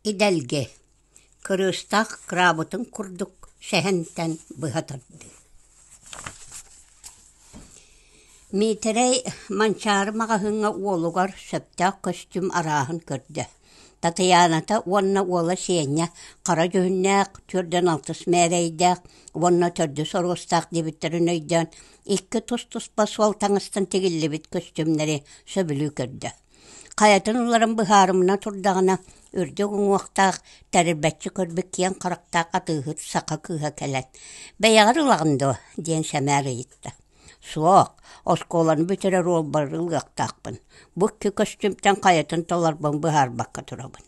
Идэлгэ кырыыстаах краабытын курдук сэһэнтэн быһа тардыы Миитэрэй Манчаары маҕаһыыҥҥа уолугар сөптөөх көстүүм арааһын көрдө. Татыйааната уонна уола Сеня хара дьүһүннээх, түөрдэн алтыс мээрэйдээх уонна төрдүс оруостаах диэбиттэрин өйдөөн, икки тус-туспа суол таҥастан тигиллибит көстүүмнэри сөбүлүү көрдө. Хайатын уларан быһаарымына турдаҕына, үрдүк уҥуохтаах, тэрилбэччи көрбүт киэҥ харахтаах атыыһыт саха кыыһа кэлэн «Бэйэҕэр ылаҕын дуо?» диэн сэмээр ыйытта. «Суох, оскуоланы бүтэрэр уолбар ылыахтаахпын, бу икки көстүүмтэн хайатын толорбун быһаарбакка турабын»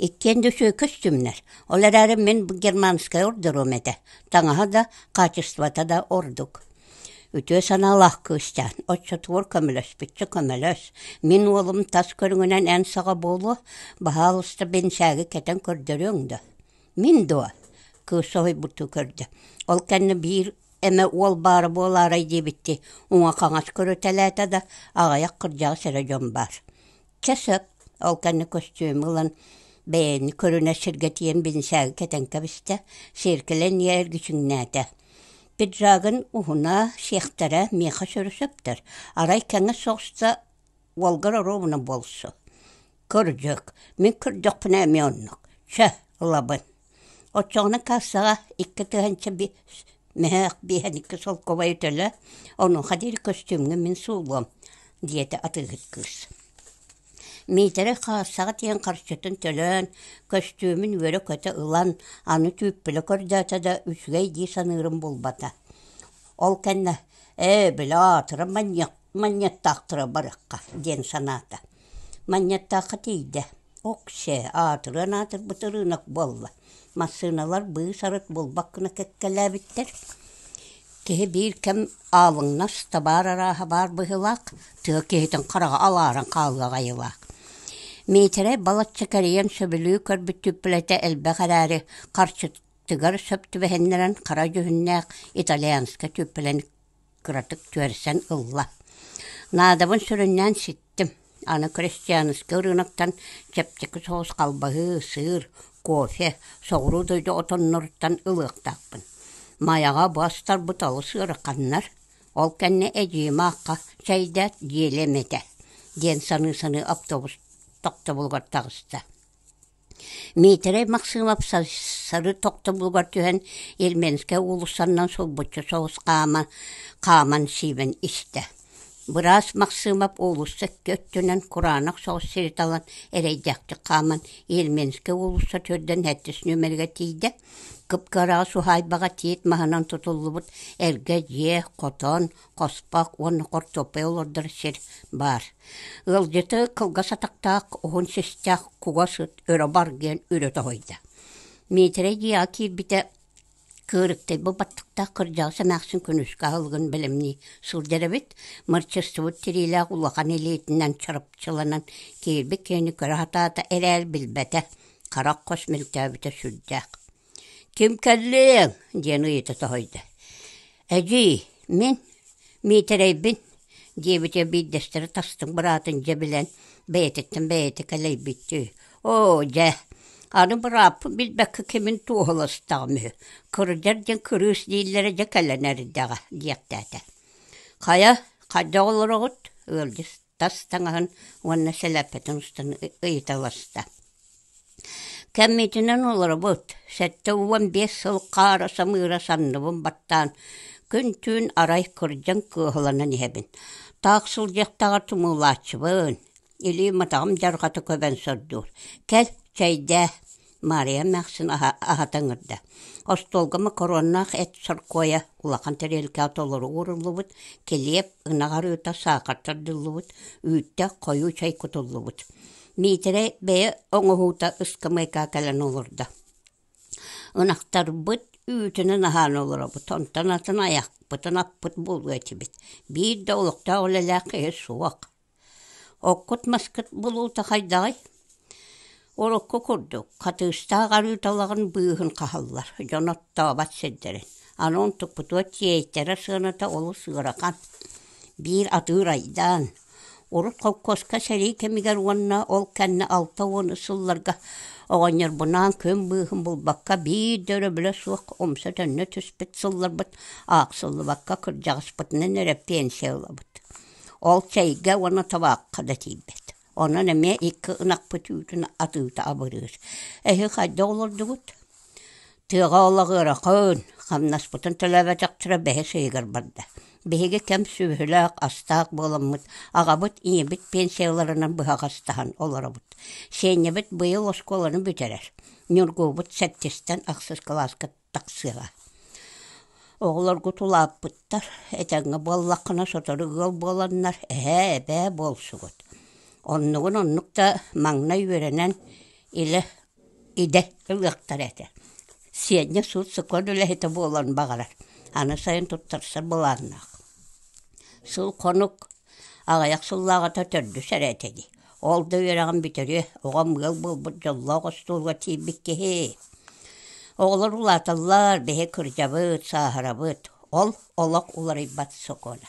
Иккиэн дьүсүө көстүмнэр, ол эрээри мин германскай ордеруом этэ, таҥаһа да, хаачыстыбата да ордук. Үтүө санаалаах кыысчаан, оччотугар көмөлөспүччэ көмөлөс. Мин уолум тас көрүҥүнэн эн саҕа буолуо, баһаалыста бинсээги кэтэн көрдөрүөҥ дуо? Мин дуо? кыыс соһуйбуттуу көрдө. Ол кэннэ биир эмэ уол баара буолаарай диэбиттии, уҥа-хаҥас көрүтэлээтэ да, аҕыйах кырдьаҕас эрэ дьон баар. Чэ сөп, ол кэннэ көстүөмү ылан бэйэни көрүнэр сиргэ тиийэн бинсээги кэтэн кэбистэ, сиэркэлэн иһэ эргичиҥнээтэ. Пиджагын уһуна, сиэхтэрэ миэхэ сөрү сөптөр, арай кэҥэс соҕуста уолгар оруобуна буолсу. Кырдьык, мин кырдьахпына эмиэ оннук. Чэ, ылабын Оччоҕуна кассаҕа икки тыһыынча мөһөөх биэһин икки солкуобайы төлө, онуоха диэри көстүүмҥэ мин суулуом, диэтэ атыыһыт кыыс. Миитэрэй каассаҕа тиийэн харчытын төлөөн, көстүүмүн үөрэ-көтө ылан, аны түүппүлэ көрдөөтө да үчүгэй дии саныырым булбата. Ол кэннэ «Ээ, били аатыран манньыаттаахтара барыахха» диэн санаата. Манньаттаахха тиийдэ, ок-сээ, аатырыан аатырбыт ырыынак буолла, массыыналар быыс-арыт булбаккына кэккэлээбиттэр. Киһи биир кэм аалыҥнас, табаар арааһа баар быһыылаах, тыа киһитин хараҕа алааран хаалыа аҕайыылаах. Миитэрэй балачча кэрийэн сөбүлүү көрбүт түппүлэтэ элбэх эрээри, харчытыгар сөп түбэһиннэрэн хара дьүһүннээх итальянска түппүлэни кыратык түөрсэн ылла. Наадабын сүрүннээн ситтим. Аны крестьянскай ырыынактан чэпчэки соус халбаһыы, сыыр, кофе, соҕуруу дойду отонноруттан ылыахтаахпын. Майаҕа бастарбыт алыс ыараханнар, ол кэннэ эдьиийим аахха «Чэйдээт, дьиэлэм этэ» диэн саныы-саныы автобус тохтобулугар таҕыста. Миитэрэй Максымов сары тохтобулугар түһэн Ерменскэй уулуссанан сулбуччу соҕус хаама, хааман сиибэн истэ. Быраас Максымов уулусса икки өттүнэн кураанах соҕус сири талан эрэйдээхтик хааман Ерменскэй уулусса төрдөн эрдис нүөмэригэр тиийдэ. Кып-кыраҕас уһаайбаҕа тиит маһынан тутуллубут эргэ дьиэ, хотон, хоспох уонна хортуоппай олордор сир баар. Ыалдьыты кылгас атахтаах, уһун систээх кугас ыт өрө бар диэн үрүтэ оһойдо. Миитэрэй дьиэҕэ киирбитэ кыырыктайбы баттыктаах кырдьаҕас эмээхсин күнүскэ аһылыгын бэлэмнии сылдьар эбит, мырчыстыбыт тириилээх улахан илиитинэн чарапчыланан киирбит киһини көрө сатаата эрээри билбэтэ, харах хос мөлтөөбүтэ сүрдээх. Ким кэллиэҥ? диэн ыйыта соһуйда. «Эдьиий, мин Миитэрэйбин» диэбитэ биирдэстэрэ тастыҥ быраатын дьэ билэн бэйэтиттэн бэйэтэ кэлэйбиттии «Оо, дьэ, аны бырааппын билбэккэ кимин туоһуластаҕым үһү, кырдьар диэн кырыыс дииллэрэ дьэ кэлэн эрдэҕэ» диэхтээтэ. «Хайа, хайдах олороҕут?» ыалдьыт тас таҥаһын уонна сэлэппэтин устан ыйыта олорсто. Кэммитинэн олоробут. Сэттэ уон биэс сыл хаара самыыра санныбын баттаан, күн-түүн арай кырдьан кыыһыланан иһэбин. Таах сылдьыахтаҕар тумуулааччыбын. Илии матаҕым дьарҕата көбөн сордуур. Кэл, чэйдээ Маарыйа эмээхсин аһа аһата ыҥырда: «Остуолга макароннаах эт соркуойа улахан тэриэлкэҕэ толору ууруллубут, килиэп, ынах арыыта саахар тардыллыбыт, үүттээх хойуу чай кутуллубут». Миитэрэй бэйэ оҥоһуута ыскамыайкаҕа кэлэн олордо. Ынахтарбыт үүтүнэн аһаан олоробут, онтон атын айахпытын аппыт буолуо этибит. Биир да олохтоох үлэлээх киһи суох Оккут-маскыт булуута хайдаҕый? Урукку курдук, хатыыстаах арыыталаҕын быыһын хаһаллар, дьон оттообот сирдэрин. Аны онтукпутугар тиэйтэрэ сыаната олус ыарахан. Биир атыыр айдаан, урут холкуоска сэрии кэмигэр уонна ол кэннэ алта уон сылларга оҕонньорбунаан күн быыһын булбакка биир да өрөбүлэ суох умса төннө түспүт сылларбыт аахсыллыбакка кырдьаҕаспытынан эрэ пенсия ылабыт Ол чэйгэ уонна табаахха да тиийбэт. Онон эмиэ икки ынахпыт үүтүн атыыта абырыыр. Эһи хайда олордугут? Тыаҕа олоҕуоракын, хамнаспытын төлөөбөтөхтөрө бэһис ыйыгар барда. Биһиги кэм сүөһүлээх, астаах буоламмыт, аҕабыт, ийэбит пенсияларынан быһаҕастаһан олоробут. Сиэнньэбит быйыл оскуоланы бүтэрэр. Ньургуубут сэттистэн ахсыс кылааска тахсыаҕа. Оҕолоргут улааппыттар, этэҥҥэ буоллаххына сотору ыал буоланнар эһээ, эбээ буолсугут. Оннугун оннук да маҥнай үөрэнэн илэ идэ ылыахтар этэ. Сиэнньэ суут-сокуон үлэһитэ буолан баҕарар, аны сайын туттарсар былааннаах. Сыл-хонук аҕыйах сыллааҕыта төрдүс эрэ этэ дии. Ол да үөрэҕин бүтэриэ, оҕом ыал буолбут дьоллоох остуолга тиийбит киһи. Оҕолор улааталлар, биһи кырдьабыт, сааһырабыт, ол олох уларыйбат сокуона.